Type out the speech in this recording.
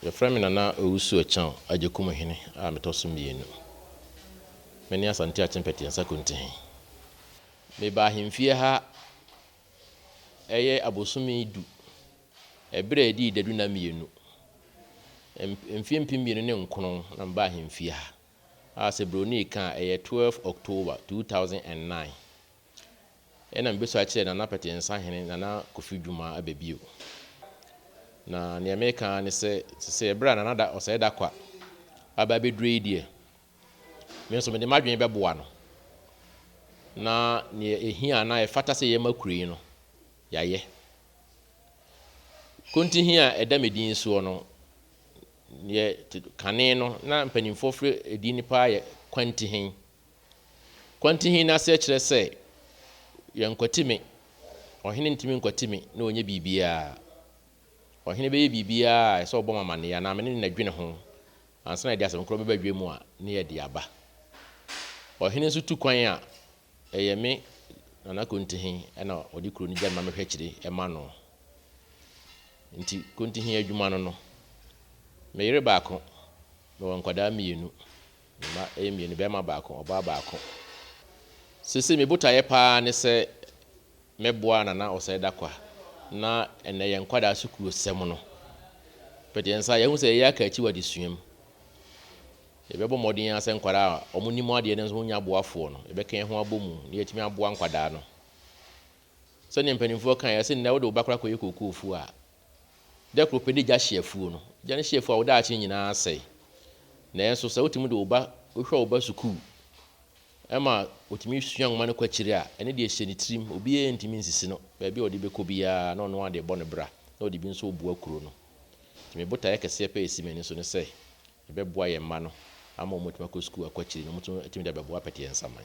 Yɛfrɛ me Nana Owusu Akyang Agyekumhene a metɔ so mmienu. Mene Asante Akyempɛteɛ Nsakonti he. Mebaa ahemfie ha ɛyɛ abosome du, ɛberɛ a ɛdii dadu nna mmienu. Mfeɛ mpem mmienu ne nkron na mebaa ahemfie ha, a sɛ bronii ka a ɛyɛ 12 October 2009. Ɛna mebesu akyerɛ Nana Pɛtee Nsahene, Nana Kofi Dumah aba bio. Na nea mereka ara ne sɛ, te sɛ bere a Nana da Ɔsɛe Dakwa aba abeduru yi deɛ, me nso mede m'adwene bɛboa no na nea ehia anaa ɛfata sɛ yɛma kuro yi no, yɛayɛ. Kontihi a ɛda me din soɔ no, yɛ kane no na mpanimfoɔ frɛ edin no paa yɛ Kwantihen. Kwantihene no aseɛ kyerɛ sɛ Yɛnkwati me, ɔhene ntumi nkwati me na ɔnyɛ biribiara. Ɔhene bɛyɛ biribiara a ɛsɛ ɔbɔ me amanneɛ anaa me ne no adwene ho ansa na yɛde asɛm korɔ bɛba dwa mu a na yɛde aba. Ɔhene nso tu kwan a, ɛyɛ me, Nana Kontihe, na ɔde kuro no gya no ma mehwɛ akyire ma no. Nti Kontihe adwuma no no, me yere baako, mewɔ nkwadaa mmienu. Me mma yɛ mmienu, barima baako, ɔbaa baako. Seesei me botaeɛ pa ara ne sɛ mɛboa Nana Osei Darkwa na ɛnnɛ yɛn nkwadaa sukuusɛm no. But yɛn nsa yɛahu sɛ yɛyɛ aka akyi wɔ adesua mu. Yɛbɛbɔ mmɔden ara sɛ nkwadaa a wɔnim adeɛ no nso wɔnya aboafoɔ no, yɛbɛka yɛn ho abɔ mu na yɛatumi aboa nkwadaa no. Sɛdeɛ mpanimfoɔ kaeɛ sɛ nnɛ wode wo ba koraa kɔyɛ kookoofuo a, Da koro pɛ na egya hye afuo no. Gya no hye afuo a, wo daakye nyinaa sɛe. Nanso sɛ wotumi de wo ba, wohwɛ wo ba sukuu ma otumi sua nwoma no kɔ akyiri a, ɛno deɛ hyɛ ne tirim. Obiara ntumi nsisi no. Baabi a ɔde bɛkɔ biara, na ɔno ara de bɔ ne bra, na ɔde bi nso boa kuro no. Nti me botaeɛ kɛseɛ pɛ a ɛsi m'ani so ne sɛ, yɛbɛboa yɛn mma no ama wɔatumi akɔ sukuu akɔ akyiri na wɔatumi de abɛboa Pɛteɛ Nsaman.